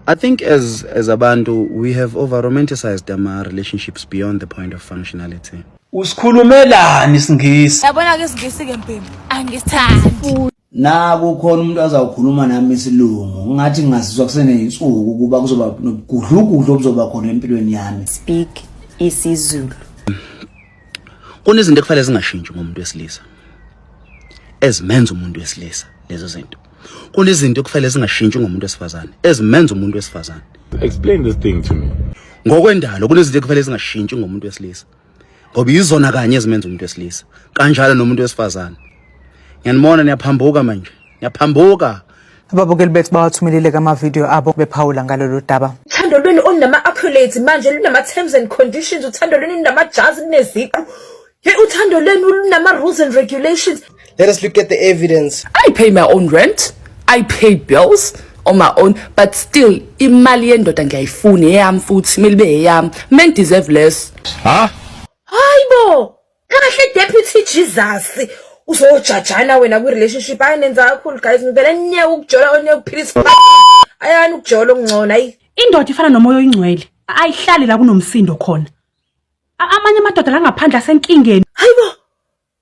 I think as as abantu we have over romanticized our relationships beyond the point of functionality. Usikhulumelani isingisi? Yabona ke isingisi ke mpimpi angisithandi. Na kukhona umuntu azawukhuluma nami isilungu ngathi ngazizwa kuseneyinsuku ukuba kuzoba nobugudlugudlu obuzoba khona empilweni yami. Speak isiZulu. Kunezinto ekufanele zingashintshi ngomuntu wesilisa. Ezimenza umuntu wesilisa lezo zinto. kunezinto ekufanele zingashintshi ngomuntu wesifazane ezimenza umuntu wesifazane explain this thing to me ngokwendalo kunezinto ekufanele zingashintshi ngomuntu wesilisa ngoba yizona kanye ezimenza umuntu wesilisa kanjalo nomuntu wesifazane ngiyanibona niyaphambuka manje niyaphambuka ababukeli bethu bawathumelile kamavidiyo abo bephawula ngalolu daba uthando lwenu olunama-accolades manje lunama-terms and conditions uthando lwenu lunamajazi luneziqu Hey, uthando lenu lunama rules and regulations. Let us look at the evidence. I pay my own rent. I pay bills on my own but still imali yendoda ngiyayifuna eyami futhi kumele ibe eyami men deserve less ha hayibo kahle deputy jesus uzojajana wena kwi-relationship hayi nenza kakhulu guys ngivele niyeke ukujola oniyeke ukuphilisa ayani ukujola okungcono ayi indoda ifana nomoya oyingcwele ayihlali la kunomsindo khona A- amanye amadoda la ngaphandle asenkingeni hayi bo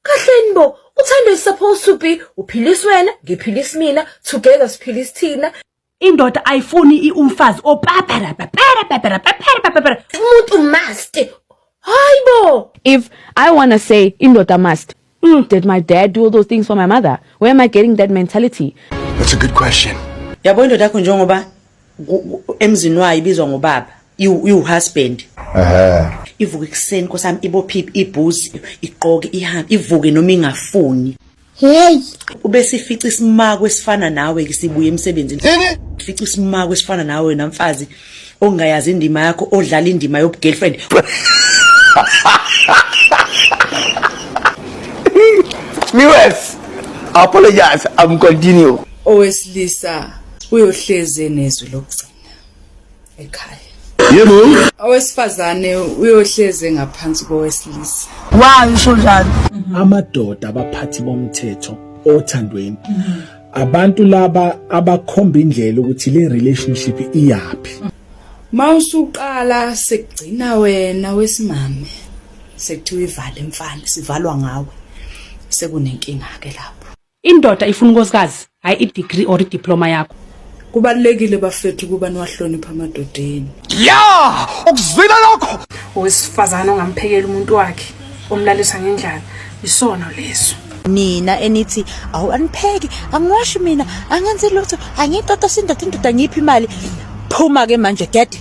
kahleni bo uthando is supposed to be uphilisa wena ngiphilisa mina together siphilisa thina indoda ayifuni i- umfazi opaparapaparapaparapaparapapara umuntu must hayi bo if i wanna say indoda must Mm, did my dad do all those things for my mother? Where am I getting that mentality? That's a good question. Yabo indoda yakho njengoba emzini wayo ibizwa ngobaba, iwuhusband. Ehhe. Ivuke ekuseni nkosami ibophi ibhuzi, iqoke ihambe, ivuke noma ingafuni. Hey, ube sifica isimako esifana nawe ke sibuye emsebenzini. Fica isimako esifana nawe namfazi ongayazi indima yakho odlala indima yobugirlfriend Miwes, apologize, I'm continue. Owesilisa uyohleze nezwi lokugcina ekhaya. Yebo. Owesifazane uyohleze ngaphansi kowesilisa. Why usho njalo? Amadoda abaphathi bomthetho othandweni abantu laba abakhomba indlela ukuthi le relationship iyaphi mawusuqala sekugcina wena wesimame sekuthiwa ivale mfana sivalwa ngawe sekunenkinga ke lapho indoda ifuna unkosikazi hayi i degree or i diploma yakho Kubalulekile bafethu ukuba niwahlonipha amadoda enu. Yeah! Ukuzwile lokho? Owesifazana ongamphekela umuntu wakhe omlalisa ngendlala isono leso. nina enithi awu anipheki angiwashi mina angenzi lutho angiyixoxa sindoda indoda ngiphi imali phuma ke manje get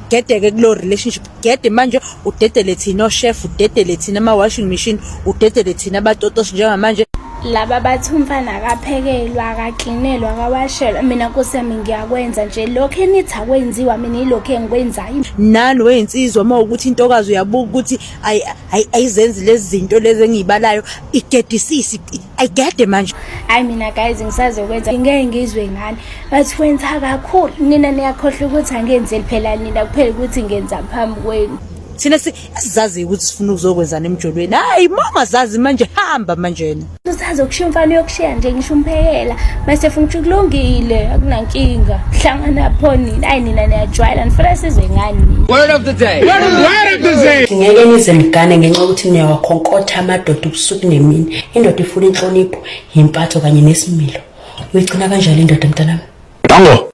gedeke kulo relationship gede manje udedele thina oshef udedele thina ama-washing machine udedele thina abatotoshi njengamanje laba bathi umfana akaphekelwa akaklinelwa akawashelwa mina nkosi yami ngiyakwenza nje lokhu enithi akwenziwa mina yilokhu engikwenzayo nani weyinsizwa uma ukuthi intokazi uyabuka ukuthi ayizenzi lezi zinto lezi engiyibalayo igedisisi ayigede manje hayi mina guys ngisazokwenza ngeke ngizwe ngani bathi kwenza kakhulu nina niyakhohlwa ukuthi angenzeli phela nina kuphela ukuthi ngenza phambi kwenu thina sizazi ukuthi sifuna ukuzokwenzana emjolweni hayi mama zazi manje hamba manjena usazi okushiya umfana uyokushiya nje ngisho umphekela mase efuna ukuthi kulungile akunankinga hlangana pho nini ayi nina niyajwayela nifuna sizwe ngani word of the day word of the day ngeke nize mgane ngenxa ukuthi niyawakhonkotha amadoda ubusuku nemini indoda ifuna inhlonipho yimpatho kanye nesimilo uyigcina kanjalo indoda mntanami dango